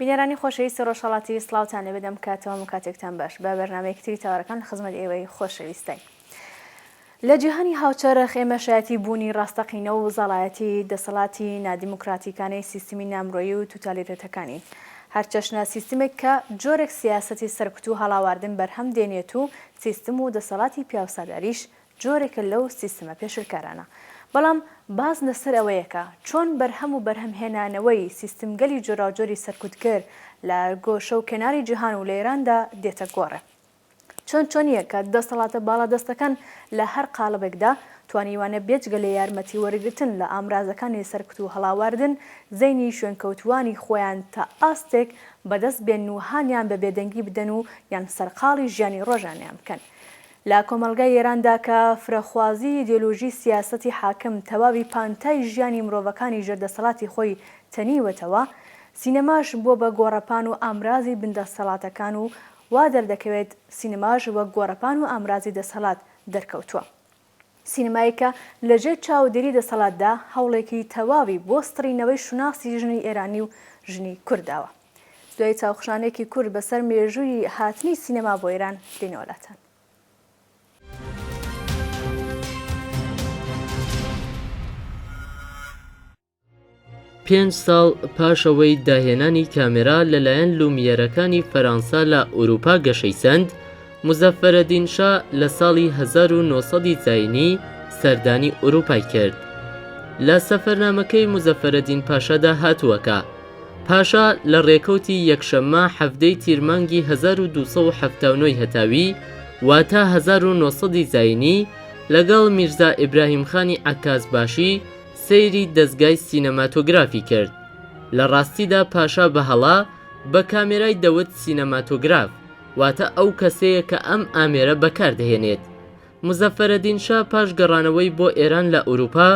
بینەرانی خۆشەویستی ڕۆژهەڵات تیڤی سڵاوتان لێبێت دەم کاتەوەم و کاتێکتان باش بە بەرنامەیەکی تری تاوەرەکان لە خزمەت ئێوەی خۆشەویستین لە جیهانی هاوچەرخ ئێمە شایەتی بوونی ڕاستەقینە و زەڵایەتی دەسەڵاتی نادیموکراتیکانەی سیستمی نامرۆیی و توتالیرێتەکانین هەرچەشنە سیستمێک کە جۆرێک سیاسەتی سەرکوت و هەڵاواردن بەرهەم دێنێت و سیستم و دەسەڵاتی پیاوساداریش جۆرێکە لەو سیستمە پێشلکارانە. بەڵام باس لەسەر ئەوەیە کە چۆن بەرهەم و بەرهەمهێنانەوەی سیستمگەلی جۆراوجۆری سەرکوتکەر لە گۆشە و کەناری جیهان و لە ئێراندا دێتە گۆڕێ. چۆن چۆنییە کە دەسەڵاتە باڵادەستەکان لە هەر قاڵبێکدا توانیویانە بێجگە لە یارمەتی وەرگرتن لە ئامرازەکانی سەرکوت و هەڵاواردن، زەینی شوێنکەوتووانی خۆیان تا ئاستێک بەدەست بێنن و هانیان بە بێدەنگی بدەن و یان سەرقاڵی ژیانی ڕۆژانەیان بکەن. لە کۆمەڵگای ئێراندا کە فرەخوازیی ئیدیۆلۆژیی سیاسەتی حاکم تەواوی پانتای ژیانی مرۆڤەکانی ژێر دەسەڵاتی خۆی تەنیوەتەوە، سینەماش بووە بە گۆڕەپان و ئامرازی بندەسەڵاتەکان و وا دەردەکەوێت سینەماش وەک گۆڕەپان و ئامرازی دەسەڵات دەرکەوتووە. سینەمایەک کە لە ژێر چاودێری دەسەڵاتدا هەوڵێکی تەواوی بۆ سڕینەوەی شوناسی ژنی ئێرانی و ژنی کورد داوە. دوای چاوخشانێکی کورت بە سەر مێژووی هاتنی سینەما بۆ ئێران، دێینەوە لاتان. پێنج ساڵ پاش ئەوەی داهێنانی کامێرا لەلایەن لومییەرەکانی فەرەنسا لە ئورووپا گەشەی سەند، موزەفەرەدین شا لە ساڵی 1900ی زایینی سەردانی ئورووپای کرد. لە سەفەرنامەکەی موزەفەرەدین پاشادا هاتووە کە، پاشا لە ڕێکەوتی یەکشەممە 17 ی تیر مانگی 1279 ی هەتاوی، واتە 1900ی زایینی، لەگەڵ میرزا ئیبراهیم خانی عەکاز باشی، سەیری دەزگای سینەماتۆگرافی کرد. لە ڕاستیدا پاشا بە هەڵە بە کامێرای دەوت سینەماتۆگراف، واتە ئەو کەسەیە کە ئەم ئامێرە بەکار دەهێنێت. موزەفەرەدین شا پاش گەڕانەوەی بۆ ئێران لە ئورووپا،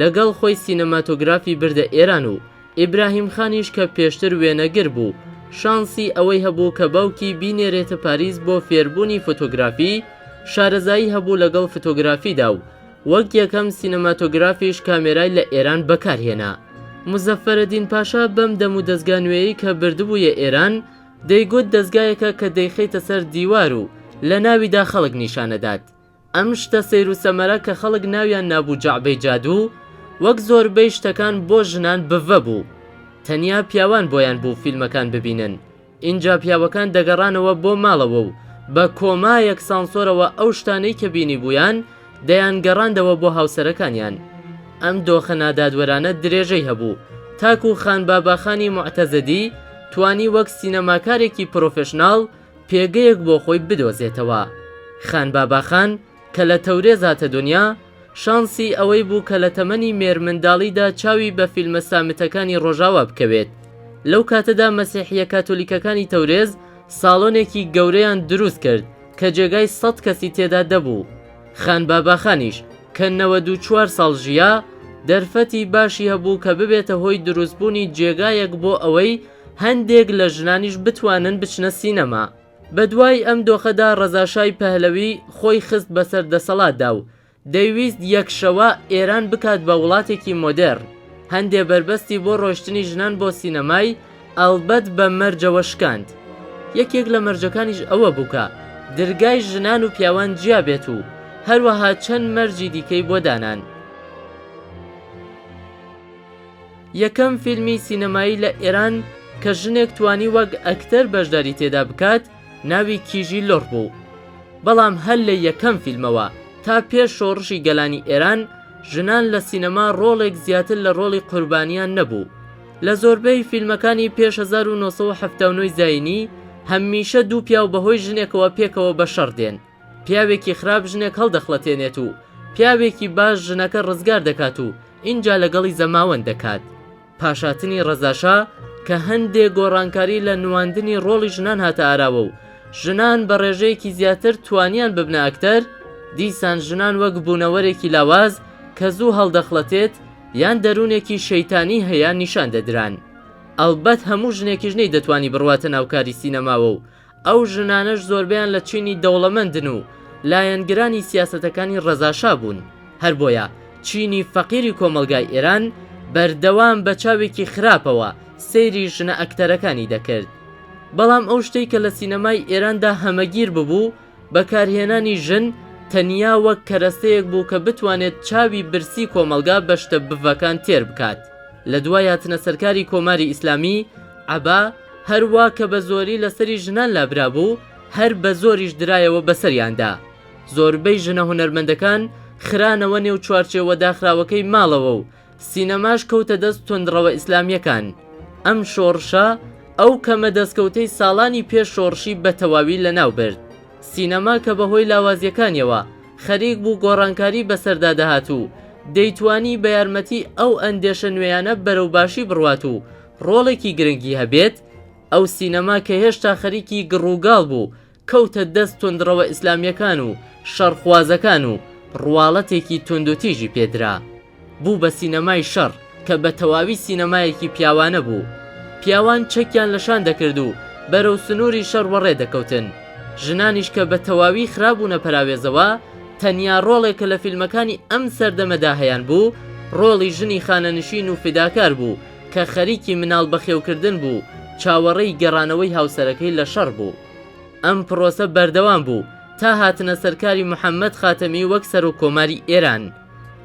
لەگەڵ خۆی سینەماتۆگرافی بردە ئێران و ئیبراهیم خانیش کە پێشتر وێنەگر بوو، شانسی ئەوەی هەبوو کە باوکی بینێرێتە پاریس بۆ فێربوونی فۆتۆگرافی، شارەزایی هەبوو لەگەڵ فتۆگرافیدا و، وەک یەکەم سینەماتۆگرافیش کامێرای لە ئێران بەکارهێنا. موزەفەرەدین پاشا بەم دەم و دەزگا نوێیەی کە بردبوویە ئێران، دەیگوت دەزگایەکە کە دەیخەیتە سەر دیوار و لە ناویدا خەڵک نیشان ئەدات. ئەم شتە سەیر و سەمەرە کە خەڵک ناویان نابوو جەعبەی جادوو، وەک زۆربەی شتەکان بۆ ژنان بڤە بوو. تەنیا پیاوان بۆیان بوو فیلمەکان ببینن. ئینجا پیاوەکان دەگەڕانەوە بۆ ماڵەوە و بە کۆمایەک سانسۆرەوە ئەو شتانەی کە بینیبوویان دەیانگەڕاندەوە بۆ هاوسەرەکانیان. ئەم دۆخە نادادوەرانە درێژەی هەبوو تاکوو خانباباخانی موعتەزدی توانی وەک سینەماکارێکی پرۆفێشناڵ پێگەیەک بۆ خۆی بدۆزێتەوە. خانباباخان، کە لە تەورێز هاتە دونیا، شانسی ئەوەی بوو کە لە تەمەنی مێرمنداڵیدا چاوی بە فیلمە سامتەکانی ڕۆژاوا بکەوێت. لەو کاتەدا مەسیحییە کاتۆلیکەکانی تەورێز ساڵۆنێکی گەورەیان دروست کرد کە جێگای سەد کەسی تێدا دەبوو. خان باباخانیش کە نەوەد و چوار ساڵ ژیا، دەرفەتی باشی هەبوو کە ببێتە هۆی دروستبوونی جێگایەک بۆ ئەوەی هەندێک لە ژنانیش بتوانن بچنە سینەما. بەدوای ئەم دۆخەدا ڕەزا شای پەهلەوی خۆی خست بەسەر دەسەڵاتدا و دەیویست یەک شەوە ئێران بکات بە وڵاتێکی مۆدێڕن. هەندێ بەربەستی بۆ ڕۆشتنی ژنان بۆ سینەمای ئەڵبەت بە مەرجەوە شکاند. یەکێک لە مەرجەکانیش ئەوە بوو کە درگای ژنان و پیاوان جیا بێت و هەروەها چەند مەرجی دیکەی بۆ دانان. یەکەم فیلمی سینەمایی لە ئێران کە ژنێک توانی وەک ئەکتەر بەشداری تێدا بکات ناوی کیژی لوڕ بوو بەڵام هەر لە یەکەم فیلمەوە تا پێش شۆڕشی گەلانی ئێران ژنان لە سینەما ڕۆڵێک زیاتر لە ڕۆڵی قوربانیان نەبوو لە زۆربەی فیلمەکانی پێش هەزار و نۆ سەد و حەفتا و نۆ ی زایینی هەمیشە دوو پیاو بەهۆی ژنێکەوە پێکەوە بە شەڕ دێن. پیاوێکی خراپ ژنێک هەڵدەخڵەتێنێت و پیاوێکی باش ژنەکە ڕزگار دەکات و ئینجا لەگەڵی زەماوەند دەکات. پاشاتنی ڕەزاشا کە هەندێ گۆڕانکاری لە نواندنی ڕۆڵی ژنان هاتە ئاراوە و ژنان بە ڕێژەیەکی زیاتر توانیان ببنە ئەکتەر، دیسان ژنان وەک بوونەوەرێکی لاواز کە زوو هەڵدەخڵەتێت یان دەروونێکی شەیتانی هەیە نیشان دەدران. ئەڵبەت هەموو ژنێکیش نەیدەتوانی بڕواتە ناو کاری سینەماوە و ئەو ژنانەش زۆربەیان لە چینی دەوڵەمەندن و لایەنگرانی سیاسەتەکانی ڕەزا شا بوون، هەر بۆیە چینی فەقیری کۆمەڵگای ئێران بەردەوام بە چاوێکی خراپەوە سەیری ژنە ئەکتەرەکانی دەکرد. بەڵام ئەو شتەی کە لە سینەمای ئێراندا هەمەگیر ببوو، بەکارهێنانی ژن تەنیا وەک کەرەستەیەک بوو کە بتوانێت چاوی برسی کۆمەڵگا بە شتە بڤەکان تێر بکات. لە دوای هاتنە سەرکاری کۆماری ئیسلامی، عەبا هەر وا کە بە زۆری لە سەری ژنان لابرابوو، هەر بە زۆریش درایەوە بە سەریاندا. زۆربەی ژنە هونەرمەندەکان خرانەوە نێو چوارچێوە داخراوەکەی ماڵەوە و، سینەماش کەوتە دەست توندڕەوە ئیسلامیەکان. ئەم شۆڕشە ئەو کەمە دەستکەوتەی ساڵانی پێش شۆڕشی بە تەواوی لەناو برد. سینەما کە بە هۆی لاوازیەکانیەوە خەریک بوو گۆڕانکاری بەسەردا دەهات و دەیتوانی بە یارمەتی ئەو ئەندێشە نوێیانە بەرەو باشی بڕوات و ڕۆڵێکی گرنگی هەبێت، ئەو سینەما کە هێشتا خەریکی گڕوگاڵ بوو، کەوتە دەست توندڕەوە ئیسلامیەکان و شەڕخوازەکان و ڕواڵەتێکی توندوتیژی پێدرا. بوو بە سینەمای شەڕ کە بە تەواوی سینەمایەکی پیاوانە بوو. پیاوان چەکیان لە شان دەکرد و بەرەو سنوری شەڕ وەڕێ دەکەوتن. ژنانیش کە بە تەواوی خرابوونە پەراوێزەوە، تەنیا ڕۆڵێک کە لە فیلمەکانی ئەم سەردەمەدا هەیانبوو، ڕۆڵی ژنی خانەنشین و فیداکار بوو کە خەریکی مناڵ بەخێوکردن بوو، چاوەڕێی گەڕانەوەی هاوسەرەکەی لە شەڕ بوو. ئەم پڕۆسە بەردەوام بوو تا هاتنە سەرکاری محەمەد خاتەمی وەک سەرۆک کۆماری ئێران.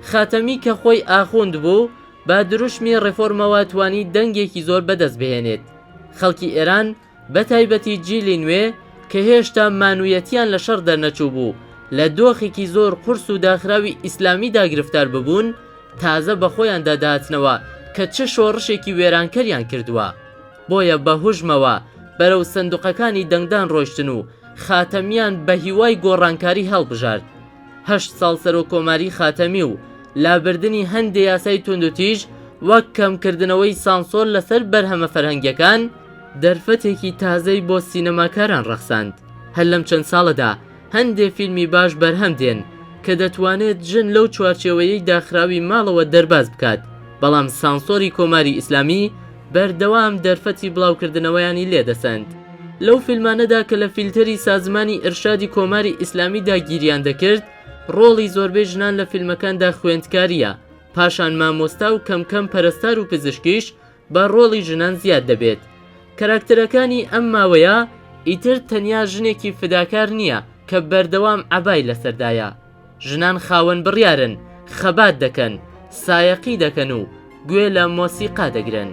خاتەمی کە خۆی ئاخوند بوو، بە دروشمی ڕێفۆرمەوە توانی دەنگێکی زۆر بەدەست بهێنێت. خەڵکی ئێران بە تایبەتی جیلی نوێ کە هێشتا مانوویەتیان لە شەڕ دەرنەچووبوو، لە دۆخێکی زۆر قورس و داخراوی ئیسلامیدا گرفتار ببوون، تازە بە خۆیاندا دەهاتنەوە کە چ شۆڕشێکی وێرانکەریان کردووە. بۆیە بە هوژمەوە بەرەو سندوقەکانی دەنگدان ڕۆشتن و خاتەمیان بە هیوای گۆڕانکاری هەڵبژارد. هەشت ساڵ سەرۆک کۆماری خاتەمی و لابردنی هەندێ یاسای توندوتیژ وەک کەمکردنەوەی سانسۆر لەسەر بەرهەمە فەرهەنگیەکان، دەرفەتێکی تازەی بۆ سینەماکاران ڕەخساند هەر لەم چەند ساڵەدا، هەندێ فیلمی باش بەرهەم دێن کە دەتوانێت ژن لەو چوارچێوەیەی داخراوی ماڵەوە دەرباز بکات، بەڵام سانسۆری کۆماری ئیسلامی بەردەوام دەرفەتی بڵاوکردنەوەیانی لێ دەسەند. لەو فیلمانەدا کە لە فیلتەری سازمانی ئیرشادی کۆماری ئیسلامیدا گیریان دەکرد، ڕۆڵی زۆربەی ژنان لە فیلمەکاندا خوێندکارییە، پاشان مامۆستا و کەم کەم پەرەستار و پزیشکیش با ڕۆڵی ژنان زیاد دەبێت کەراکتەرەکانی ئەم ماوەیە ئیتر تەنیا ژنێکی فداکار نییە کە بەردەوام عەبای لەسەردایە ژنان خاوەن بڕیارن خەبات دەکەن سایەقی دەکەن و گوێ لە مۆسیقا دەگرن.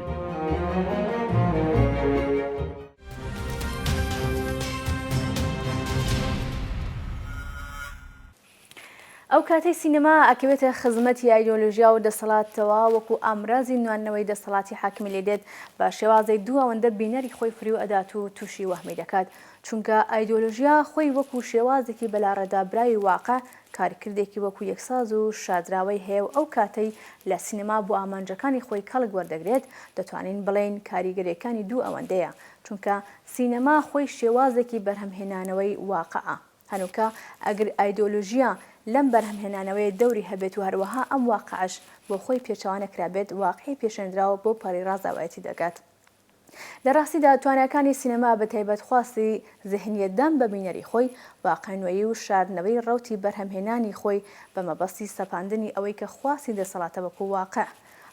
ئەو کاتەی سینەما ئەکەوێتە خزمەتی ئایدۆلۆژیا و دەسەڵاتەوە وەکو ئامرازی نواندنەوەی دەسەڵاتی حاکمی لێ دێت بە شێوازێک دوو ئەوەندە بینەری خۆی فریو ئەدات و توشی وەهمی دەکات چونکە ئایدۆلۆژیا خۆی وەکو شێوازێکی بەلاڕێدابراوی واقع کارکردێکی وەکو یەکساز و شاردراوەی هەیە و ئەو کاتەی لە سینەما بۆ ئامانجەکانی خۆی کەڵک وەردەگرێت دەتوانین بڵێین کاریگەریەکانی دوو ئەوەندەیە چونکە سینەما خۆی شێوازێکی بەرهەمهێنانەوەی واقعە. هەنووکە ئەگر ئایدۆلۆژیا لەم بەرهەمهێنانەوەیە دەوری هەبێت و هەروەها ئەم واقعەش بۆ خۆی پێچەوا نەکرابێت، واقعی پێشێندراو بۆ پەڕی ڕازاوایەتی دەگات. لە ڕاستیدا تواناکانی سینەما بە تایبەت خواستی زهنیەتدان بە بینەری خۆی، واقع نوێی و شاردنەوەی ڕەوتی بەرهەمهێنانی خۆی بە مەبەستی سەپاندنی ئەوەی کە خواستی دەسەڵاتە وەکو واقع.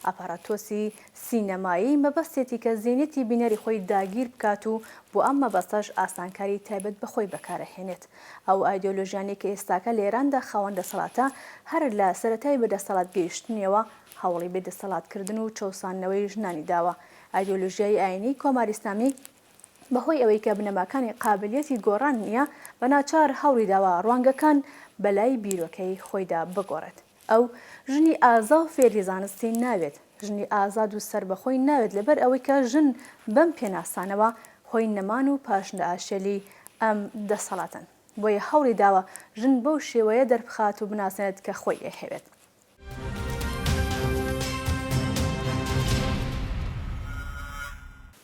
ئاپاراتۆسی سینەمایی مەبەستێتی کە زینتی بینەری خۆی داگیر بکات و بۆ ئەم مەبەستەش ئاسانکاری تایبەت بە خۆی بەکار ئەهێنێت. ئەو ئایدۆلۆژیانەی کە ئێستاکە لە ئێراندا خاوەن دەسەڵاتە هەر لە سەرەتای بە دەسەڵات گەیشتنیەوە هەوڵی بێ دەسەڵات کردن و چەوساندنەوەی ژنانی داوە. ئایدۆلۆژیای ئایینی کۆماری ئیسلامی بە هۆی ئەوەی کە بنەماکانی قابلیەتی گۆڕان نیە بە ناچار هەوڵی داوە ڕوانگەکان بە لای بیرۆکەی خۆیدا بگۆڕێت. ئەو ژنی ئازا و فێری زانستی نابێت، ژنی ئازاد و سەربەخۆی نابێت لەبەر ئەوەی کە ژن بەم پێناسانەوە خۆی نەمان و پاشنائاشێلی ئەم دەسەڵاتەن بۆیە هەوڵی داوە ژن بەو شێوەیە دەربخات و بناسێنێت کە خۆی ئەیهەوێت.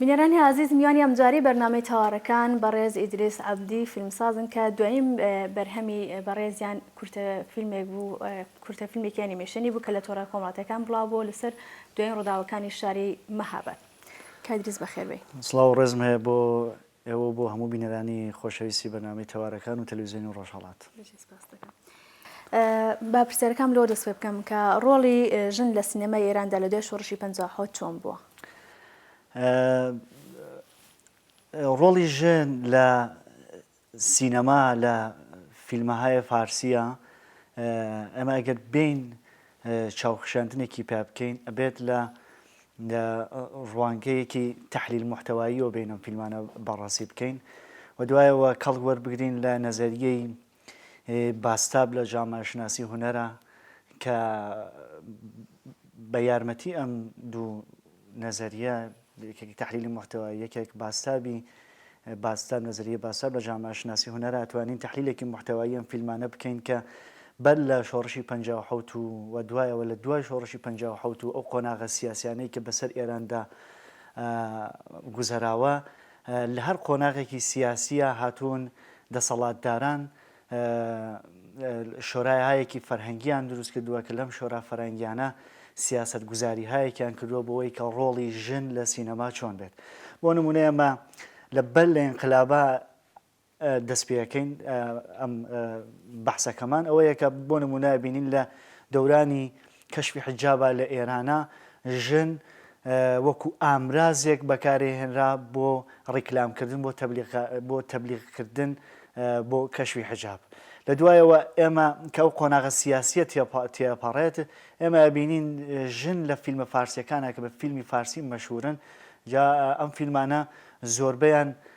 بینەرانی ئازیز میوانی ئەمجاری بەرنامەی تەوارەکان بەڕێز ئیدریس عەبدی فیلمسازن کە دوایین بەرهەمی بەڕێزیان کورتە فیلمێک بوو، کورتە فیلمێکی ئەنیمەیشنی بوو کە لە تۆڕە کۆمەڵاتییەکان بڵاو بووە لەسەر دوایین ڕووداوەکانی شاری مەهاباد. کاک دریس بەخێر بێی. سڵاو و ڕێزم هەیە بۆ ئێوە و بۆ هەموو بینەرانی خۆشەویستی بەرنامەی تەوارەکان و تەلەویزیۆنی ڕۆژهەڵات. بژی سپاست دەکەم. با پرسیارەکانم لەوە دەست پێ بکەم کە ڕۆڵی ژن لە سینەمای ئێراندا لە دوای شۆڕشی پەنجا و حەوت چۆن بووە؟ ڕۆڵی ژن لە سینەما لە فیلمەهای فارسیە ئێمە ئەگەر بێین چاوخشاندنێکی پیا بکەین ئەبێت لە ڕوانگەیەکی تحلیل محتەواییەوە بینەم فیلمانە بەڕاستی بکەین و دوایەوە کەڵک وەربگرین لە نەزەریەی باستاب لە جاماشناسی هونەرە کە بە یارمەتی ئەم دوو نەزەریە یەکێکی تەحلیلی موحتەوا یەکێک باسابی باساب نەزەریە باساب لە جاماشناسی هونەرا توانین تەحلیلێکی محتەوایی ئەم فیلمانە بکەین کە بەر لە شۆڕشی پ و دوایەوە لە دوای شۆڕشی پ و ئەو قۆناغە سیاسیانەی کە بەسەر ئێراندا گوزەراوە لە هەر قۆناغێکی سیاسیە هاتوون دەسەڵاتداران شۆرایهایهکی فەرهەنگییان دروست کردووە کە لەم شۆرا فەرهەنگییانە سیاسەتگوزارییهایهکیان کردووە بۆوەی کە ڕۆڵی ژن لە سینەما چۆن بێت. بۆ نموونە ئێمە لە بەر لە ئینقلابە دەست پێەکەین ئەم بەحسەکەمان ئەوەیە کە بۆ نموونە ئەبینین لە دەورانی کەشفی حیجابا لە ئێرانا ژن وەکو ئامرازێک بەکارێ هێنرا بۆ ڕیکلام کردن بۆ تەبلیغ بۆ تەبلیغ کردن بۆ کەشفی حیجاب لە دوایەوە ئێمە کە ئەو قۆناغە سیاسیە تێپەڕێت ئێمە بینین ژن لە فیلمە فارسیەکانە کە بە فیلمی فارسی مەشهورن جا ئەم فیلمانە زۆربیان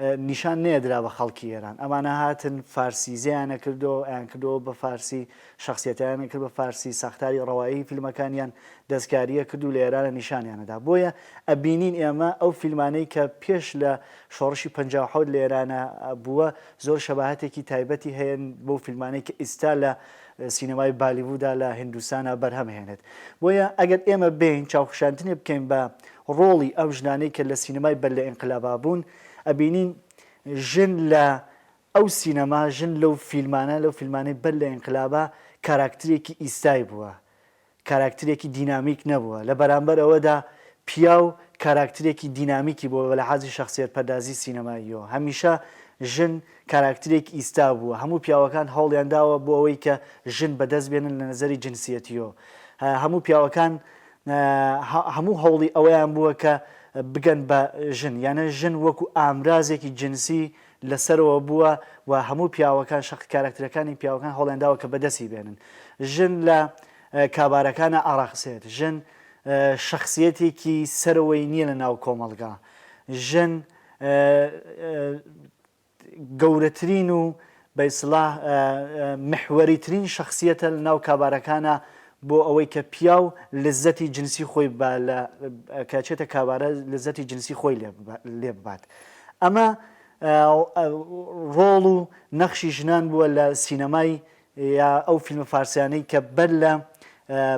نیشان نەیەدرا بە خەڵکی ئێران ئەمانە هاتن فارسیزەیان نەکردۆ ئەیان کردەوە بە فارسی شەخسیەتەیان نەکرد بە فارسی ساختاری ڕەوایی فیلمەکانیان دەستکاریە کردو لە ئێرانە نیشانیان نەدا بۆیە ئەبینین ئێمە ئەو فیلمانەی کە پێش لە شۆڕشی پەنجا و حەوت لە ئێرانە بووە زۆر شەباهەتێکی تایبەتی هەیەن بەو فیلمانەی کە ئیستا لە سینەمای بالیوودا لە هیندوستانا بەرهەم هێنێت بۆیە ئەگەر ئێمە بێین چاوخشاندنێ بکەین بە ڕۆڵی ئەو ژنانەی کە لە سینەمای بەر لە ئینقلابا بوون ئەبینین ژن لە ئەو سینەما ژن لەو فیلمانە لەو فیلمانەی بەر لە ئینقلابا کاراکترێکی ئیستای بووە کاراکترێکی دینامیک نەبووە، لە بەرامبەر ئەوەدا پیاو کاراکترێکی دینامیکی بووە لە حازی شەخسیەت پەردازی سینەماییەوە. هەمیشە ژن کاراکترێک ئیستا بووە، هەموو پیاوەکان هەوڵیان داوە بۆ ئەوەی کە ژن بە دەست بێنن لە نەزەری جنسیەتیەوە هەموو پیاوەکان هەموو هەوڵی ئەوەیان بووە کە بگەن بە ژن یانە ژن وەکو ئامرازێکی جنسی لەسەرەوە بووە و هەموو پیاوەکان شەق کاراکترەکانی پیاوەکان هەوڵیانداوە کە بەدەستی بێنن. ژن لە کابارەکانا ئاراقسێت، ژن شەخسیەتێکی سەرەوەی نیە لە ناو کۆمەڵگا، ژن گەورەترین و بە ئیسڵاح محوەریترین شەخسیەتە لە ناو کابارەکانا بۆ ئەوەی کە پیاو لەززەتی جنسی خۆی با لە کە چێتە کابارە لەززەتی جنسی خۆی لێ ببات ئەمە ڕۆڵ و نەخشی ژنان بووە لە سینەمای یا ئەو فیلمە فارسیانەی کە بەر لە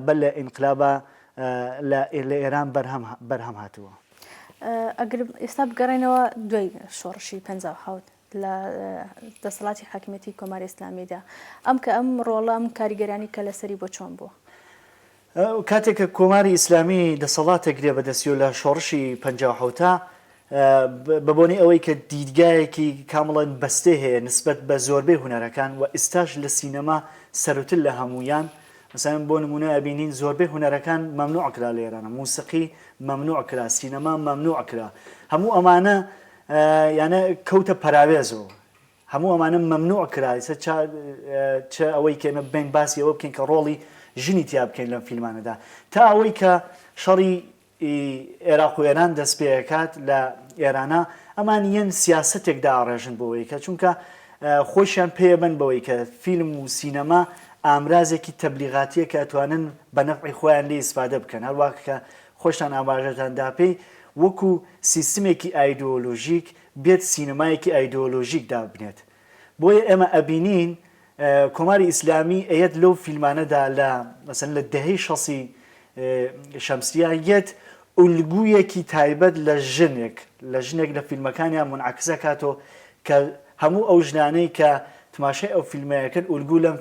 بەر لە ئینقلابە لە ئێران بەرهەم هاتووە. ئەگەر ئێستا بگەڕێنەوە دوای شۆڕشی پەنجا و حەوت لە دەسەڵاتی حاکمیەتی کۆماری ئیسلامیدا ئەم کە ئەم ڕۆڵە ئەم کاریگەرانی کە لەسەری بۆ چۆن بووە؟ کاتێک کە کۆماری ئیسلامی دەسەڵات ئەگرێ بە دەستی و لە شۆڕشی پەنجا و حەوتا بە بۆنەی ئەوەی کە دیدگایەکی کامڵەن بەستێ هەیە نسبەت بە زۆربەی هونەرەکان و ئیستاش لە سینەما سەروتر لە هەموویان مەسەلەن بۆ نموونە ئەبینین زۆربەی هونەرەکان مەمنوع کرا لە ئێرانە موسیقی مەمنوع کرا سینەما مەمنوع کرا هەموو ئەمانە یانە کەوتە پەراوێز و هەموو ئەمانە مەمنوع کرا ئیسە چا چ ئەوەی کە ئێمە بێین باسی ئەوە بکەین کە ڕۆڵی ژنی تیا بکەین لەم فیلمانەدا تا ئەوەی کە شەڕی ی ئێراق و ئێران دەست پێ ئەکات لە ئێرانە ئەمان یەن سیاسەتێک داڕێژن بۆ ئەوەی کە چونکە خۆشیان پێ بەن بەوەی کە فیلم و سینەما ئامرازێکی تەبلیغاتیە کە ئەتوانن بە نەفعی خۆیان لێی ئیسفادە بکەن هەروا کە خۆشتان ئاماژەتان دا پێی وەکو سیستمێکی ئایدۆلۆژیک بێت سینەمایەکی ئایدۆلۆژیک دابنێت بۆیە ئێمە ئەبینین کۆماری ئیسلامی ئەیەت لەو فیلمانەدا لە مەسەن لە دەهەی شەسی شەمسیا یەت ئولگویەکی تایبەت لە ژنێک لە ژنێک لە فیلمەکانیان منعکسەکاتۆ کە هەموو ئەو ژنانەی کە تماشای ئەو فیلمەیە کرد ئولگوو لەم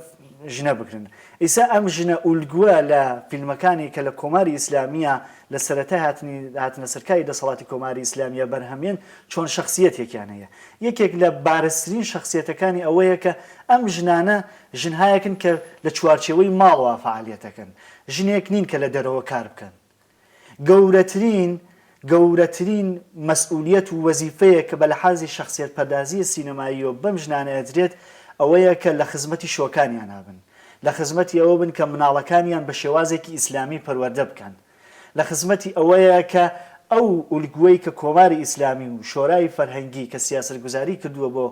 ژنە بگرن ئیسا ئەم ژنە ئولگووە لە فیلمەکانی کە لە کۆماری ئیسلامیە لە سەرەتای هاتنی هاتنە سەر کاری دەسەڵاتی کۆماری ئیسلامیە بەرهەمێن چۆن شەخسیەتێکیان هەیە یەکێک لە بارزترین شەخسیەتەکانی ئەوەیە کە ئەم ژنانە ژنهایەکن کە لە چوارچێوەی ماڵەوە فەعالیەتەکەن ژنێک نین کە لە دەرەوە کار بکەن گەورەترین گەورەترین مەسئولیەت و وەزیفەیەک کە بە لەحازی شەخسیەت پەردازیی سینەماییەوە بەم ژنانە ئەدرێت ئەوەیە کە لە خزمەتی شۆکانیانا بن لە خزمەتی ئەوە بن کە مناڵەکانیان بە شێوازێکی ئیسلامی پەروەردە بکەن لە خزمەتی ئەوەیە کە ئەو ئولگوەی کە کۆماری ئیسلامی و شۆرای فەرهەنگی کە سیاسەتگوزاری کردوە بۆ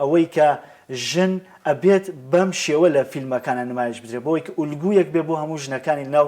ئەوەی کە ژن ئەبێت بەم شێوە لە فیلمەکانا نمایش بدرێت بۆ ئەوەی کە ئولگویەک بێت بۆ هەموو ژنەکانی لە ناو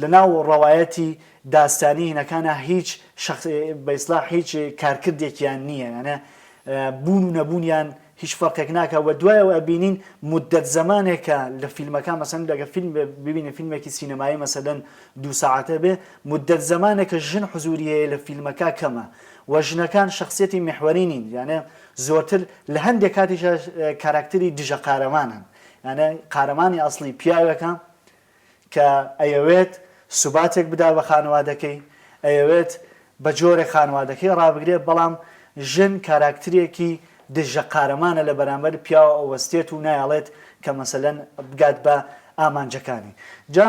لە ناو ڕەوایەتی داستانی هینەکانا هیچ شەخ بە ئیسلاح هیچ کارکردێکیان نییە یانە بوون و نەبوونیان هیچ فەرقێک ناکە و دوایەوە ئەبینین مدەت زەمانێکە لە فیلمەکان مەسەن لەگە فیلم ببینە فیلمێکی سینەمایی مەسەدەن دو ساعتە بێ مدەت زەمانێکە ژن حزوری هەیە لە فیلمەکە کەمە و ژنەکان شخصیەتی محوەری نین یانە زۆرتر لە هەندێک کاتیش کاراکتری دژە قارەمانن یانێ قارەمانی ئەسڵی پیاوێکە کە ئەیەوێت سوباتێک بدا بە خانەوادەکەی، ئەیەوێت بە جۆرێک خانەوادەکەی ڕابگرێت، بەڵام ژن کاراکترێکی دژە قارەمانە لە بەرامبەر پیاوە ئەوەستێت و نایەڵێت کە مەسەلەن بگات بە ئامانجەکانی. جا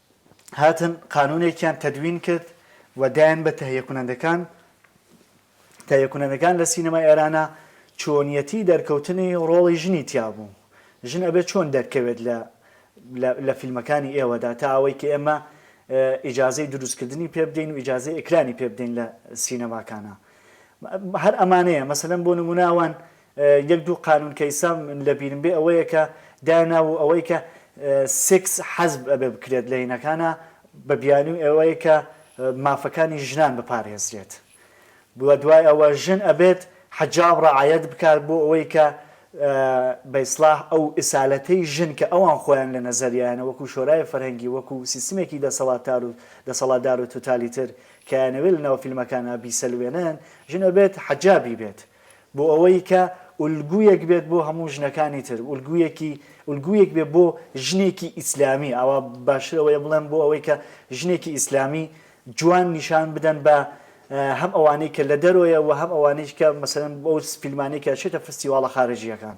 هاتن قانونێکیان تەدوین کرد و دایان بە تەهیە کونەندەکان، تەهیە کونەندەکان لە سینەمای ئێرانە چۆنیەتی دەرکەوتنی ڕۆڵی ژنی تیا بوو، ژن ئەبێ چۆن دەرکەوێت لە لە لە فیلمەکانی ئێوەدا تا ئەوەی کە ئێمە ئیجازەی دروست کردنی پێ بدەین و ئیجازەی ئیکرانی پێ بدەین لە سینەماکانا هەر ئەمانەیە مەسەلەن بۆ نمونە ئەوان یەک دوو قانون کە ئیستا من لە بیرم بێ ئەوەیە کە دانابوو ئەوەی کە سێکس حەزب ئەبێ بکرێت لە هینەکانا بە بیانوی ئەوەی کە مافەکانی ژنان بپارێزرێت بوە دوای ئەوە ژن ئەبێت حەجاب ڕەعایەت بکات بۆ ئەوەی کە بە ئیسڵاح ئەو ئسالەتەی ژن کە ئەوان خۆیان لە نەزەریانە وەکو شۆرای فەرهەنگی وەکو سیستمێکی دەسەڵاتار و دەسەڵاتدار و توتالیتر کە یانەوێ لە ناو فیلمەکانا بیسەلوێنن ژن ئەبێت حەجابی بێت بۆ ئەوەی کە ئولگوویەک بێت بۆ هەموو ژنەکانی تر، ئولگوویەکی، ئولگوویەک بێت بۆ ژنێکی ئیسلامی، ئاوا باشتر ئەوەیە بڵێم بۆ ئەوەی کە ژنێکی ئیسلامی جوان نیشان بدەن بە هەم ئەوانەی کە لە دەرۆیە و هەم ئەوانەیش کە مەسەلەن ئەو فیلمانەی کە ئەچێتە فستیواڵە خارجییەکان.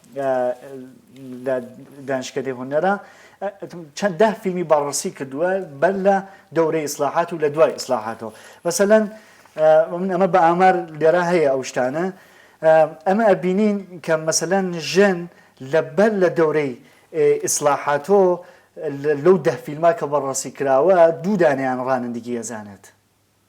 لە دانشکدەی هونەرا چەند دە فیلمی باڕسی کردووە بەر لە دەورەی ئیسلاحات و لە دوای ئیسلاحاتەوە بەسەلەن من ئەمە بە ئامار لێرا هەیە ئەو شتانە ئەمە ئەبینین کە مەسەلەن ژن لەبەر لە دەورەی ئیسلاحاتۆ لەو دە فیلما کە بەڕاستی کراوە دوو دانیان ڕانندگی ئەزانێت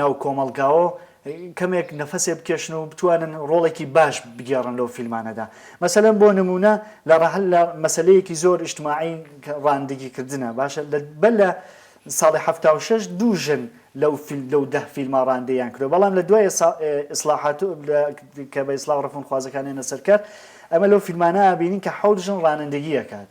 ناو کۆمەڵگاوە کەمێک نەفەسێ بکێشن و بتوانن ڕۆڵێکی باش بگێڕن لەو فیلمانەدا مەسەلەن بۆ نمونە لە ڕەحل لە مەسلەیەکی زۆر ئیشتماعی ڕاندگی کردنە باشە بە لە ساڵی هەفتا و شەش دوو ژن لەو فیلم لەو دە فیلما ڕاندەیان کرد بەڵام لە دوای ئیسلاحات کە بە ئیسلاح ڕفونخوازەکانێنە سەرکار ئەمە لەو فیلمانە بینین کە حەوت ژن ڕانندگیەکات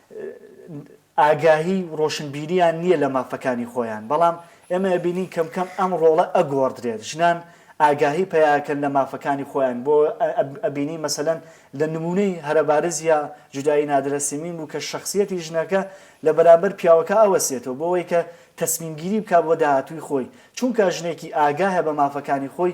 ئاگاهی و ڕۆشنبیریان نییە لە مافەکانی خۆیان، بەڵام ئێمە ئەبینین کەم کەم ئەم ڕۆڵە ئەگۆڕدرێت، ژنان ئاگاهی پەیاکەن لە مافەکانی خۆیان، بۆ ئەبینین مەسەلەن لە نموونەی هەرە بارز یا جودایی نادرە سیمین بوو کە شەخسیەتی ژنەکە لە بەرامبەر پیاوەکە ئەوەسێتەوە بۆ وەی کە تەسمیمگیری بکات بۆ داهاتووی خۆی، چوونکا ژنێکی ئاگاهە بە مافەکانی خۆی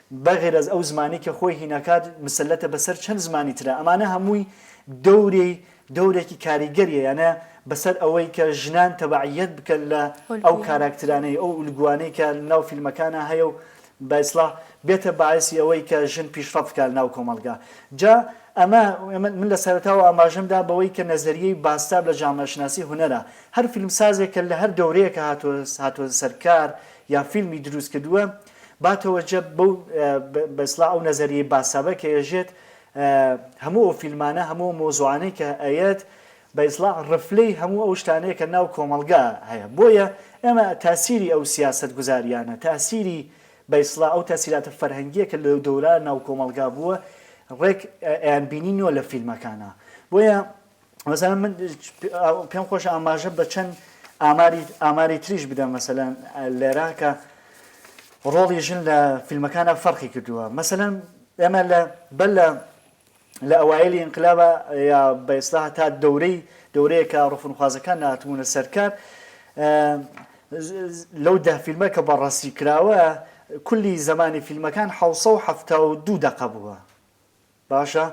بەغرەز ئەو زمانەی کە خۆی هیناکات مسەلەتە بەسەر چەند زمانی ترا ئەمانە هەمووی دەوری دەورێکی کاریگەریە یانە بەسەر ئەوەی کە ژنان تەبعیەت بکەن لە ئەو کاراکترانەی ئەو ئولگوانەی کە ناو فیلمەکانا هەیە و بە ئیسڵاح بێتە باعسی ئەوەی کە ژن پیشڕەفت بکا لە ناو کۆمەڵگا جا ئەمە من لە سەرەتاوە ئاماژەم دا بەوەی کە نەزەریەی باستاب لە جامەشناسی هونەرا هەر فیلمسازێک کە لە هەر دەورەیەکا هاتوە هاتوە سەر کار یا فیلمی دروست کردوە با تەوەجە بەو بە اصلاح ئەو نەزەریەی باسابە کە یەژێت هەموو ئەو فیلمانە هەموو ئەو مەوزوعانەی کە ئەیەت بە اصلاح رفلەی هەموو ئەو شتانەیە کە ناو کۆمەڵگا هەیە بۆیە ئێمە تاسیری ئەو سیاسەت گوزاریانە تاسیری بە اصلاح ئەو تاسیراتە فەرهەنگیە کە لەو دەورە ناو کۆمەڵگا بووە رێک ئەیان بینینەوە لە فیلمەکانا بۆیە مەسەلەن من پێم خۆش ئاماژە بە چەند ئاماری تریش بدەم مەسەلەن لێرا کە ڕۆڵی ژن لە فیلمەکانە فەرقی کردووە مەسەلەن ئێمە لە بەر لە لە ئەوایلی ئینقلابە یا بە ئێستا تا دەورەی دەورەیە کە ڕفونخوازەکان ناتبوونە سەرکار لەو دە فیلمە کە بەڕاستی کراوە کولی زمانی فیلمەکان 1970 دوو دقە بووە باشە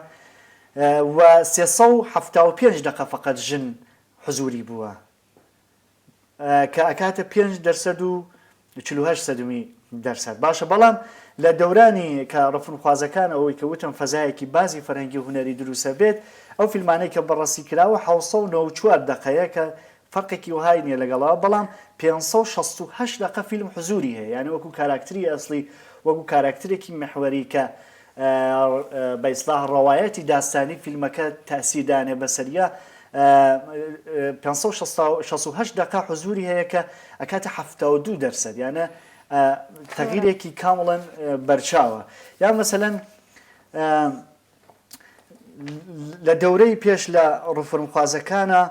وە سێ سەد و حەفتا و پێنج دەقە فەقەت ژن حزوری بووە کە ئەکاتە پێنج دەرسەد و چل و هەشت سەدمی دەرسەد باشە بەڵام لە دەورانی کە ڕفنخوازەکان ئەوەی کە وتم فەزایەکی بازی فەرهەنگی هونەری دروسە بێت ئەو فیلمانەی کە بەڕەسی کراوە حەوت سەد و نەوەد و چوار دەقەیە کە فەرقێکی وهای نیە لەگەڵەوە بەڵام پێنج سەد و شەست و هەشت دەقە فیلم حزوری هەیە یانە وەکو کاراکتری ئەسڵی وەکو کاراکترێکی محوەری کە بە ئیسلاح ڕەوایەتی داستانی فیلمەکە تەئسیر دانێ بەسەریا پێنج سەد و شەست و شەست و هەشت دەقە حزوری هەیە کە ئەکاتە حەفتا و دوو دەرسەد یانە تەوارە تەغیرێکی کامڵەن بەرچاوە یا مەسەلەن لە دەورەی پێش لە ڕفرمخوازەکانە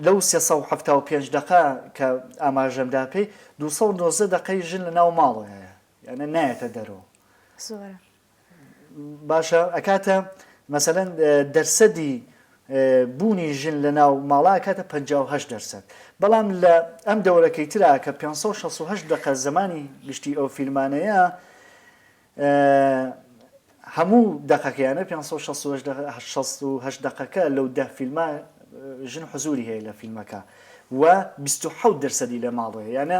لەو سێ سەد و حەفتا و پێنج دەقە کە ئاماژەمدا پێی دوو سەد و نۆزدە دەقەی ژن لە ناو ماڵەیە یانە نایەتە دەرەوە زۆرە باشە ئەکاتە مەسەەن دەرسەدی بوونی ژن لە ناو ماڵا کاتە 5 دەرسەد بەڵام لە ئەم دەورەکەی ترا کە 568 دقە زمانی گشتی ئەو فیلمانەیە هەموو دقەکەیانە 5 دقەکە لەو ده فیلمە ژن حزوری هەیە لە فیلمەکە و 26 دەرسەدی لە ماڵەیە یانە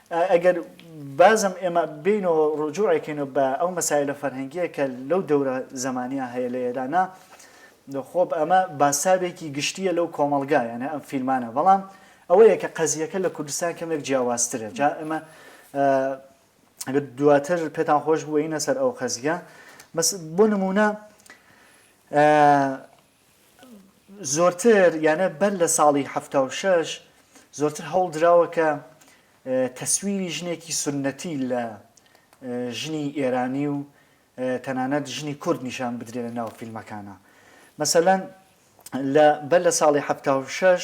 ئەگەر بازم ئێمە بێین و ڕوجوعێ کەینەوە بە ئەو مەسایلە فەرهەنگیە کە لەو دەورە زەمانیە هەیە لە ئێرانا خۆ ئەمە باساوێکی گشتیە لەو کۆمەڵگا یانە ئەم فیلمانە بەڵام ئەوەیە کە قەزیەکە لە کوردستان کەمێک جیاوازترە جا ئەمە ئەگەر دواتر پێتان خۆش بووینە سەر ئەو قەزیە بەس بۆ نمونە زۆرتر یانە بەر لە ساڵی حەفتا و شەش زۆرتر هەوڵ دراوە کە تەسویری ژنێکی سوننەتی لە ژنی ئێرانی و تەنانەت ژنی کورد نیشان بدرێ لە ناو فیلمەکانە مەسەلەن لە بەر لە ساڵی حەفتا و شەش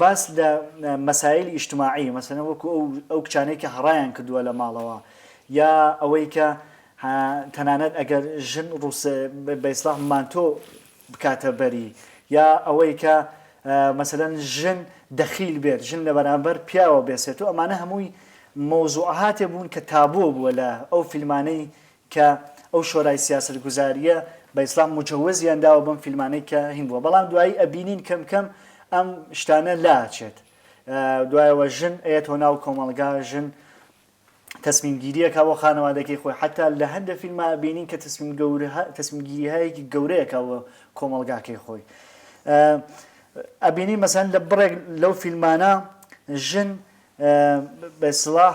باس لە مەسایلی ئیجتماعی، مەسەلەن وەکو ئەو کچانەی کە هەڕایان کردووە لە ماڵەوە، یا ئەوەی کە تەنانەت ئەگەر ژن بە ئیسڵاح مانتۆ بکاتە بەری، یا ئەوەی کە مەسەلەن ژن دەخیل بێت، ژن لە بەرامبەر پیاوە بێسێتۆ، ئەمانە هەمووی مەوزوعاتێ بوون کە تابۆ بووە لە ئەو فیلمانەی کە ئەو شۆرای سیاسەت گوزاریە بە ئیسلام موجەوەزیان داوە بەم فیلمانەی کە هین بووە بەڵام دوایی ئەبینین کەم کەم ئەم شتانە لا ئەچێت دوایەوە ژن ئەیەتەوە ناو کۆمەڵگا ژن تەسمیم گیریەکە بۆ خانەوادەکەی خۆی حتا لە هەندە فیلما ئەبینین کە تەسمیم گەورە تەسمیم گیریهایەکی گەورەیەکە بۆ کۆمەڵگاکەی خۆی ئەبینین مەسەن لە بڕێک لەو فیلمانە ژن بە سڵاح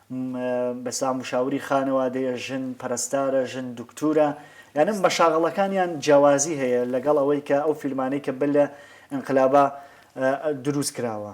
مەسا مشاوری خانەوادەیە، ژن پەرستارە، ژن دوکتورە، یانە مەشاغەڵەکانیان جیاوازی هەیە لەگەڵ ئەوەی کە ئەو فیلمانەی کە بەر لە ئینقلابا دروست کراوە.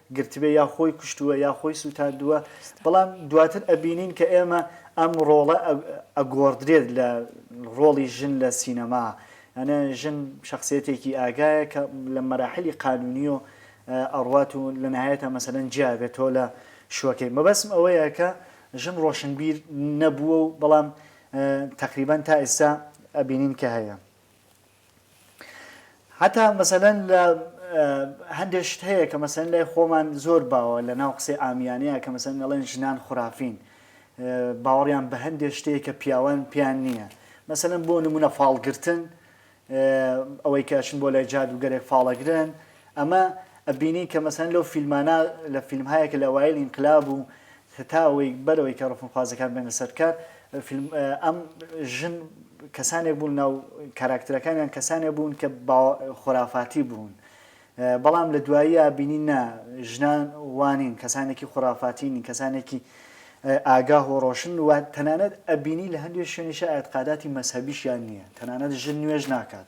گرتبێ یا خۆی کوشتووە یا خۆی سووتاندووە بەڵام دواتر ئەبینین کە ئێمە ئەم ڕۆڵە ئەگۆڕدرێت لە ڕۆڵی ژن لە سینەما یانە ژن شخصیەتێکی ئاگایە کە لە مەراحلی قانونی و ئەڕوات و لە نهایەتە مەسەلەن جیابێت تۆ لە شوەکەی مەبەسم ئەوەیە کە ژن ڕۆشنبیر نەبووە و بەڵام تقریبا تا ئێستا ئەبینین کە هەیە. حەتا مەسەلەن لە هەندێ شت هەیە کە مەسەن لای خۆمان زۆر باوە لە ناو قسەی ئامیانەیە کە مەسەن ئەڵێن ژنان خورافین باوەڕیان بە هەندێ شتەیە کە پیاوان پیان نییە مەسەن بۆ نمونە فاڵگرتن ئەوەی کەشن بۆ لای جادوگەرێک فاڵەگرن ئەمە ئەبینین کە مەسەلەن لەو فیلمانە لە فیلمهایە کە لە ئەوایل ئینقلاب و هەتا ئەوەی بەر ئەوەی کە ڕفنخوازەکان بێنە سەر کار فیلم ئەم ژن کەسانێک بوون ناو کاراکترەکانیان کەسانێک بوون کە با خۆرافاتی بوون بەڵام لە دواییە بینین نا ژنان وانین کەسانێکی خۆرافاتی نین کەسانێکی ئاگاه و ڕۆشن و تەنانەت ئەبینی لە هەندێک شوێنیشە ئاعتقاداتی مەسەبیشیان نییە تەنانەت ژن نوێژ ناکات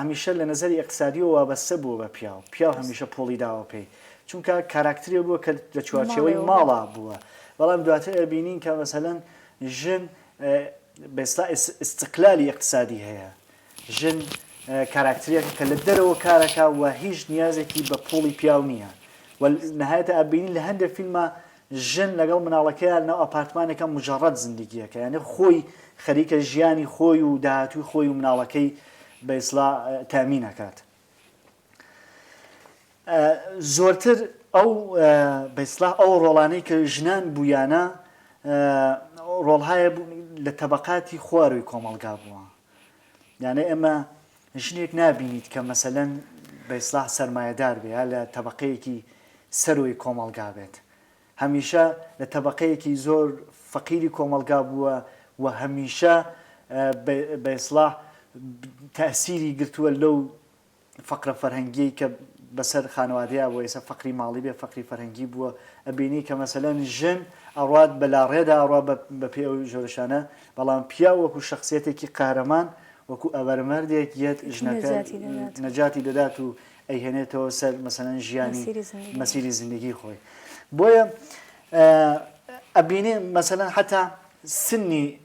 هەمیشە لە نەزەری ئیقتسادیەوە وابەستە بووە بە پیاو، پیاو هەمیشە پۆڵی داوە پێی، چونکە کاراکترێ بووە کە لە چوارچێوەی ماڵا بووە، بەڵام دواتر ئەبینین کە مەسەلەن ژن بێستا ئیستقلالی ئیقتسادی هەیە، ژن کاراکترێکە کە لە دەرەوە کارەکە و هیچ نیازێکی بە پۆڵی پیاو نییە و نەهایەتە ئەبینین لە هەندێک فیلما ژن لەگەڵ مناڵەکەیا لەناو ئەپارتمانێکە موجەڕەد زندگیەکە یانی خۆی خەریکە ژیانی خۆی و داهاتووی خۆی و مناڵەکەی بە ئیسلا تامین ئەکات زۆرتر ئەو بە ئیسلا ئەو ڕۆڵانەی کە ژنان بوویانە ڕۆڵهایە لە تەبقاتی خواروی کۆمەڵگا بووە یانێ ئێمە ژنێک نابینیت کە مەسەلەن بە ئیسڵاح سەرمایەدار بێ یا لە تەبەقەیەکی سەرووی کۆمەڵگا بێت. هەمیشە لە تەبەقەیەکی زۆر فەقیری کۆمەڵگا بووە و هەمیشە بە ئیسڵاح تەئسیری گرتووە لەو فەقرە فەرهەنگیەی کە بەسەر خانەوادەیا بووە ئێستا فەقری ماڵی بێ فەقری فەرهەنگی بووە ئەبینی کە مەسەلەن ژن ئەڕات بە لاڕێدا ئەڕا بە پێ ئەو ژۆرەشانە بەڵام پیا وەکو شخصیەتێکی قارەمان وەکو ئەبەرمەردێک یەت ژنەکە نەجاتی دەدات و ئەیهێنێتەوە سەر مەسەن ژیانی مەسیری زندگی خۆی بۆیە ئەبینێ مەسەن حتا سنی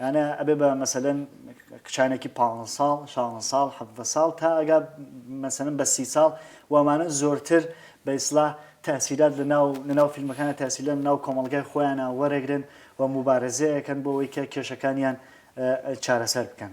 یانە ئەبێ بە مەسەلەن کچانێکی پانزە ساڵ شانزە ساڵ حەڤدە ساڵ تا ئەگا مەسەلەن بە سی ساڵ وامانە زۆرتر بە ئیسلاح تاسیرات لە ناو لە ناو فیلمەکانە تاسیلە لە ناو کۆمەڵگای خۆیانە وەرەگرن و موبارەزەیەکەن بۆ ئەوەی کە کێشەکانیان چارەسەر بکەن.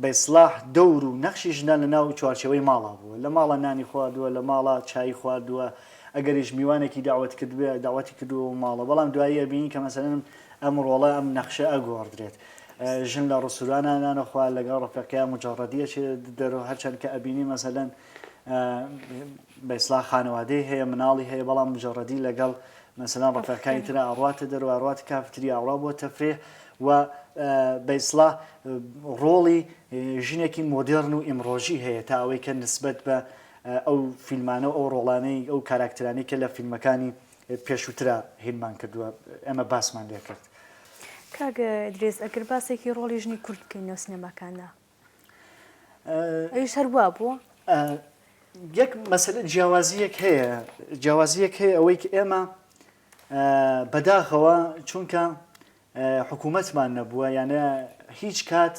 بە ئیسلاح دەور و نەخشی ژنان لە ناو چوارچێوەی ماڵا بووە، لە ماڵا نانی خواردووە، لە ماڵا چایی خواردووە، ئەگەریش میوانێکی دەعوەت کردبێ، دەعوەتی کردووە بۆ ماڵا، بەڵام دوایی ئەبینین کە مەسەلەن ئەم ڕۆڵە، ئەم نەخشە ئەگۆڕدرێت، ژن لە ڕستورانا نان ئەخوا، لەگەڵ ڕەفیقەکەیا موجەڕەدی ئەچێتە دەرەوە، هەرچەند کە ئەبینین مەسەلەن، بەیسڵا خانەوادەی هەیە مناڵی هەیە بەڵام مجەڕەدی لەگەڵ مەسەلەن ڕەفیقەکانی ترا ئەڕواتە دەرەوە ئەڕواتە کافتریا ئەڕوا بۆ تەفریح و بەیسڵا ڕۆڵی ژنێکی مۆدێڕن و ئیمڕۆژی هەیە تا ئەوەی کە نسبەت بە ئەو فیلمانە و ئەو ڕۆڵانەی ئەو کاراکترانی کە لە فیلمەکانی پێشووترا هینمان کردووە ئێمە باسمان لێکرد. کاک ئیدریس ئەگەر باسێکی ڕۆڵی ژنی کورد بکەین نێو سینەماکاندا، ئەویش هەر وا بووە؟ یەک مەسەلە جیاوازیەک هەیە جیاوازیەک هەیە ئەوەی کە ئێمە بەداخەوە چونکە حکوومەتمان نەبووە یانە هیچ کات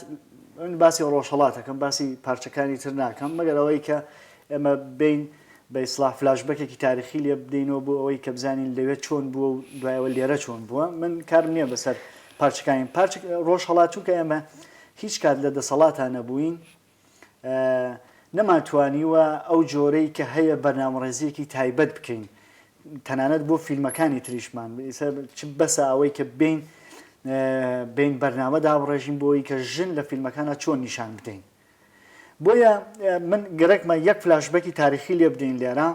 من باسی ڕۆژهڵاتەکەم باسی پارچەکانی تر ناکەم مەگەر ئەوەی کە ئێمە بین بە ئیسلا فلاش بەکێکی تاریخی لێ بدەینەوە بۆ ئەوەی کە بزانین لەوێت چۆن بووە و دوایەوە لێرە چۆن بووە من کارم نییە بەسەر پارچەکانی پارچ ڕۆژهڵات چونکە ئێمە هیچ کات لە دەسەڵاتا نەبووین نەمانتوانیوە ئەو جۆرەی کە هەیە بەرنامەڕێزیەکی تایبەت بکەین تەنانەت بۆ فیلمەکانی تریشمان چ بەسە ئەوەی کە بین بین بەرنامە دابڕێژین بۆی کە ژن لە فیلمەکانە چۆن نیشان بدەین بۆیە من گەرەکمە یەک فلاشبەکی تاریخی لێ بدەین لێرە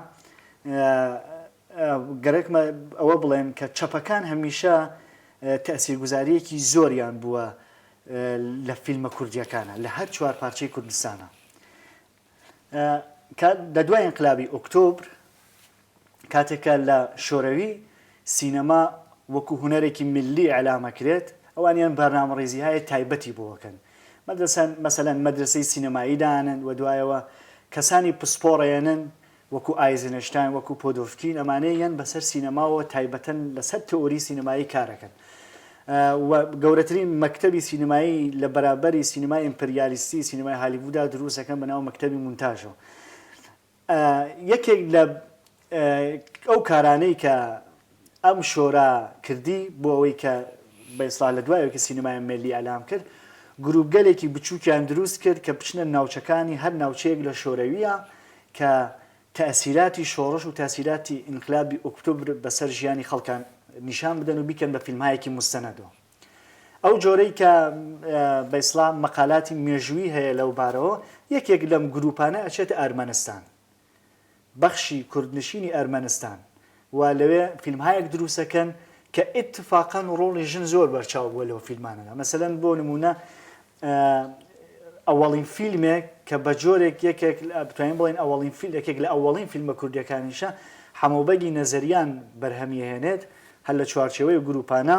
گەرەکمە ئەوە بڵێن کە چەپەکان هەمیشە تەسیرگوزاریەکی زۆریان بووە لە فیلمە کوردیەکانە لە هەر چوار پارچەی کوردستانە لە دوای ئینقلابی ئۆکتۆبر کاتێکە لە شۆرەوی سینەما وەکو هوەرێکی ملی ئەلامەکرێت ئەوانیان بەرنامە ڕێزی هاە تایبەتی بۆەکەن مەدەسەن مەسەەن مەدرسەی سینەمایی دانن و دوایەوە کەسانی پسپۆڕێنن وەکو ئایزنشتاین، وەکو پۆدۆڤکین، ئەمانەی یەن بەسەر سینەماوە تایبەتن لەسەر تئۆری سینەمایی کارەکەن و گەورەترین مەکتەبی سینەمایی لە بەرابەری سینەمای ئیمپریالیستی سینەمای هالیوودا دروست دەکەن بە ناو مەکتەبی مونتاژەوە یەکێک لە ئەو کارانەی کە ئەم شۆرا کردی بۆ ئەوەی کە بە ئیسڵاح لە دوای ئەوەی کە سینمای مێللی ئیعلام کرد گرووپگەلێکی بچووکیان درووست کرد کە بچنە ناوچەکانی هەر ناوچەیەک لە شۆرەوییە کە تەئسیراتی شۆڕش و تەئسیراتی ئینقلابی ئوکتوبر بە سەر ژیانی خەڵکا نیشان بدەن و بیکەن بە فیلمهایەکی موستەنەدەوە ئەو جۆرەی کە بە ئیسڵاح مەقالاتی مێژوویی هەیە لەو بارەوە یەکێک لەم گرووپانە ئەچێتە ئەرمەنستان بەخشی کوردنشینی ئەرمەنستان و لەوێ فیلمهایەک دروسەکەن کە ئیتفاقەن ڕۆڵی ژن زۆر بەرچاو بوە لەو فیلمانەدا مەسەلەن بۆ نمونە ئەوەڵین فیلمێک کە بە جۆرێک یەکێک بتوانین بڵێن ئەوەڵین فیل یەکێک لە ئەوەڵین فیلمە کوردیەکانیشە حەمەوبەگی نەزەریان بەرهەمیەهێنێت هەر لە چوارچێوەی گروپانە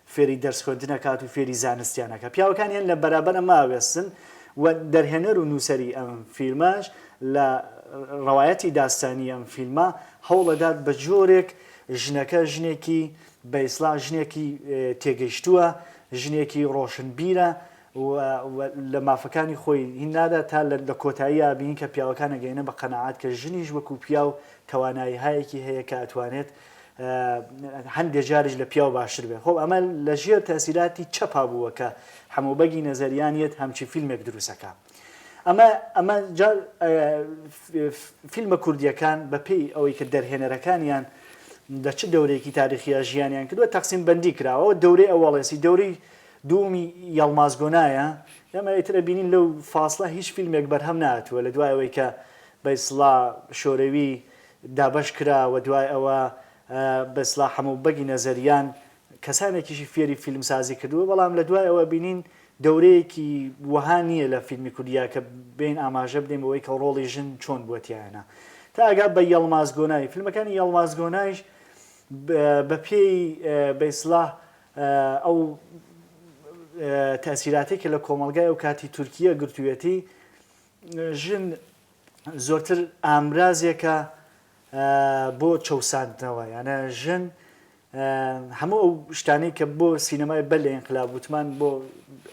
فێری دەرس خوێندن ئەکات و فێری زانستیان ئەکات پیاوەکانیان لە بەرابەر ئەمە ئەوێستن و دەرهێنەر و نووسەری ئەم فیلمەش لە ڕەوایەتی داستانی ئەم فیلمە هەوڵەدات بە جۆرێک ژنەکە ژنێکی بە ئیسڵاح ژنێکی تێگەیشتووە ژنێکی ڕۆشنبیرە لە مافەکانی خۆی هین نادا تا لە کۆتایی ئابین کە پیاوەکانە گەینە بە قەنەعات کە ژنیش وەکو پیاو توانایی هایەکی هەیە کە ئەتوانێت هەندێ جاریش لە پیاو باشتر بێت خۆ ئەمە لە ژێر تەسیراتی چەپا بووە کە حەموبەگی نەزەریان یەت هەمچی فیلمێک دروستەکە ئەمە ئەمە فیلمە کوردیەکان بەپی ئەوەی کە دەرهێنەرەکانیان لە چ دەورێکی تاریخیە ژیانیان کردوە تەقسیم بەندی کراوە دەورەی ئەوەڵێسی دەوری دومی یاڵمازگۆنایە ئەمە ئیترە بینین لەو فاصلە هیچ فیلمێک بەرهەم ناتوە لە دوایەوەی کە بەیسڵا شۆرەوی دابەش کرا و دوای ئەوە بە ئیسڵاح هەموو بەگی نەزەریان کەسانێکیشی فێری فیلمسازی کردووە بەڵام لە دوای ئەوە بینین دەورەیەکی وەها نییە لە فیلمی کوردیا کە بێین ئاماژە بدەین بەوەی کە ڕۆڵی ژن چۆن بووە تیایانا تا ئەگا بە یەڵماز گۆنای فیلمەکانی یەڵماز گۆنایش بە پێی بە ئیسڵاح ئەو تەئسیراتەی کە لە کۆمەڵگای ئەو کاتی تورکییە گرتوویەتی ژن زۆرتر ئامرازێکە بۆ چەوساندنەوە یانە ژن هەموو ئەو شتانەی کە بۆ سینەمای بەر لە ئینقلاب وتمان بۆ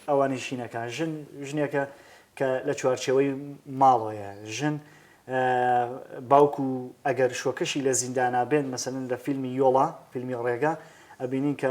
ئەوانی شینەکە ژن ژنێکە کە لە چوارچەوەی ماڵەیە ژن باوک و ئەگەر شۆکەشی لە زیندانابێن مەسەن لە فیلمی یۆڵا فیلمی ڕێگا ئەبینین کە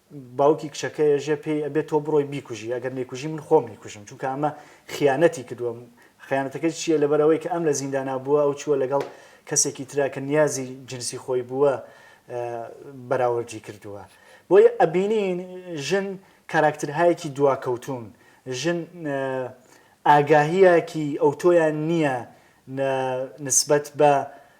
باوکی کچەکەیەژە پێی ئەبێت تۆ بڕۆی بیکوژی ئەگەر نەیکوژی من خۆم ئەیکوژم چونکە ئەمە خیانەتی کردووە خیانەتەکە چییە لەبەرئەوەی کە ئەم لە زیندانا بووە ئەو چووە لەگەڵ کەسێکی ترا کە نیازی جنسی خۆی بووە بەراوردی کردووە بۆیە ئەبینین ژن کاراکترهایەکی دواکەوتوون ژن ئاگاهیەکی ئەوتۆیان نییە نسبەت بە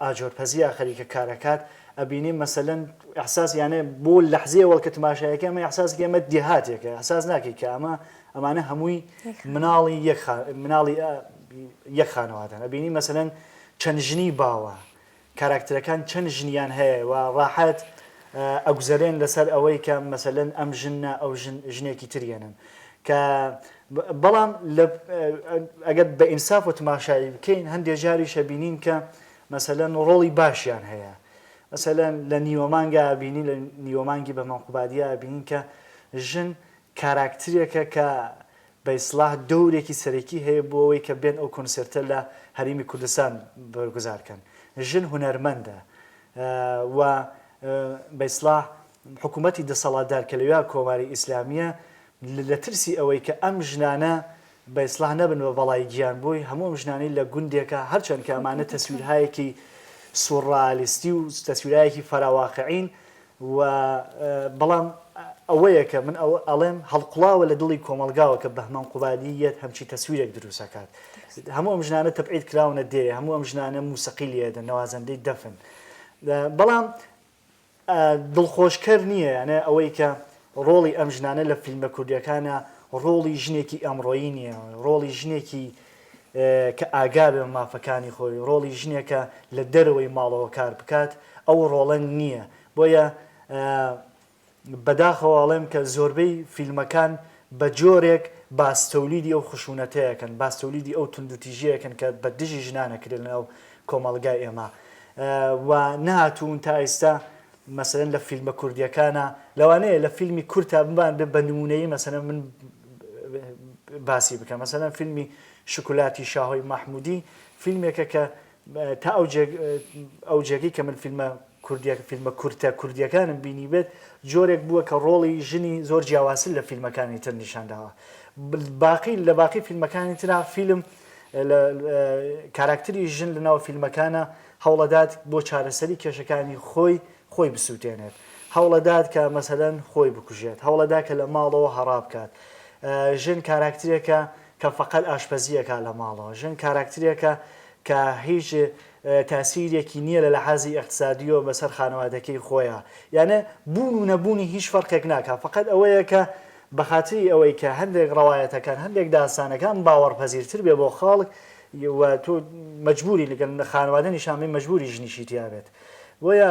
ئاجۆر پەزییە خەریکە کارەکات ئەبینی مەسەلەن ئیحساس یانێ بۆ لەحزەیە وەڵکە تماشایەکە ئەمە ئیحساسێکی ئەمە دێهاتێکە ئیحساس ناکەی کە ئەمە ئەمانە هەمووی مناڵی یەک مناڵی یەک خانەوادەن ئەبینی مەسەلەن چەند ژنی باوە کاراکتەرەکان چەند ژنیان هەیە و ڕاحەت ئەگوزەرێن لەسەر ئەوەی کە مەسەلەن ئەم ژنە ئەو ژنێکی تریەنن کە بەڵام لە ئەگەر بە ئینساف و تماشایی بکەین هەندێ جاریش ئەبینین کە مەسەلەن ڕۆڵی باشیان هەیە مەسەلەن لە نیوەمانگا ئەبینین لە نیوەمانگی بە مەقوبادیا ئەبینین کە ژن کاراکترێکە کە بە ئیسڵاح دەورێکی سەرەکی هەیە بۆ ئەوەی کە بێن ئەو کۆنسێرتە لە هەریمی کوردستان بەرگوزار کەن ژن هونەرمەندە و بە ئیسڵاح حکومەتی دەسەڵاتدار کە لەویا کۆماری ئیسلامییە لە ترسی ئەوەی کە ئەم ژنانە بە ئیسڵاح نەبن بە بەڵای گیان بۆی هەموو ئەم ژنانەی لە گوندێکە هەرچەند کە ئەمانە تەسویرهایەکی سوڕالیستی و تەسویرایەکی فەراواقعین و بەڵام ئەوەیە کە من ئەوە ئەڵێم هەڵقوڵاوە لە دڵی کۆمەڵگاوە کە بەهمەن قوبادی یەت هەمچی تەسویرێک دروست ئەکات هەموو ئەم ژنانە تەبعید کراونە دێ هەموو ئەم ژنانە موسەقیل یەدە نەوازەندەی دەفن بەڵام دڵخۆشکەر نییە یانێ ئەوەی کە ڕۆڵی ئەم ژنانە لە فیلمە کوردیەکانە ڕۆڵی ژنێکی ئەمڕۆیی نییە ڕۆڵی ژنێکی کە ئاگا بێ مافەکانی خۆی ڕۆڵی ژنێکە لە دەرەوەی ماڵەوە کار بکات ئەو ڕۆڵە نییە بۆیە بەداخەوە ئەڵێم کە زۆربەی فیلمەکان بە جۆرێک باس تۆلیدی ئەو خشونەتەیەکەن باس تۆلیدی ئەو توندوتیژیەکەن کە بە دژی ژنان ئەکرێ لە ناو کۆمەڵگای ئێمە و نەهاتوون تا ئیستا مەسەلەن لە فیلمە کوردیەکانا لەوانەیە لە فیلمی کورتا بمان بێ بە نمونەیی مەسەلەن من باسی بکەم مەسەلەن فیلمی شوکولاتی شاهۆی مەحمودی فیلمێکە کە تا ئەو جێ ئەو جێگەی کە من فیلمە کوردیە فیلمە کورتە کوردیەکانم بینیبێت جۆرێک بووە کە ڕۆڵی ژنی زۆر جیاوازتر لە فیلمەکانی تر نیشان داوە باقی لە باقی فیلمەکانی ترا فیلم کاراکتری ژن لە ناو فیلمەکانە هەوڵەدات بۆ چارەسەری کێشەکانی خۆی خۆی بسووتێنێت هەوڵەدات کە مەسەدەن خۆی بکوژێت هەوڵەدا کە لە ماڵەوە هەڕا بکات ژن کاراکترێکە کە فەقەت ئاشپەزی ئەکا لە ماڵەوە ژن کاراکترێکە کە هیچ تاسیرێکی نیە لە لەحازی ئیقتسادیەوە بەسەر خانەوادەکەی خۆیا یانە بوون و نەبوونی هیچ فەرقێک ناکا فەقەت ئەوەیە کە بە خاتری ئەوەی کە هەندێک ڕەوایەتەکان هەندێک داستانەکان باوەڕ پەزیر تر بێ بۆ خاڵک و تۆ مەجبوری لەگەل خانەوادە نیشان بی مەجبوری ژنیشی تیا بێت بۆیە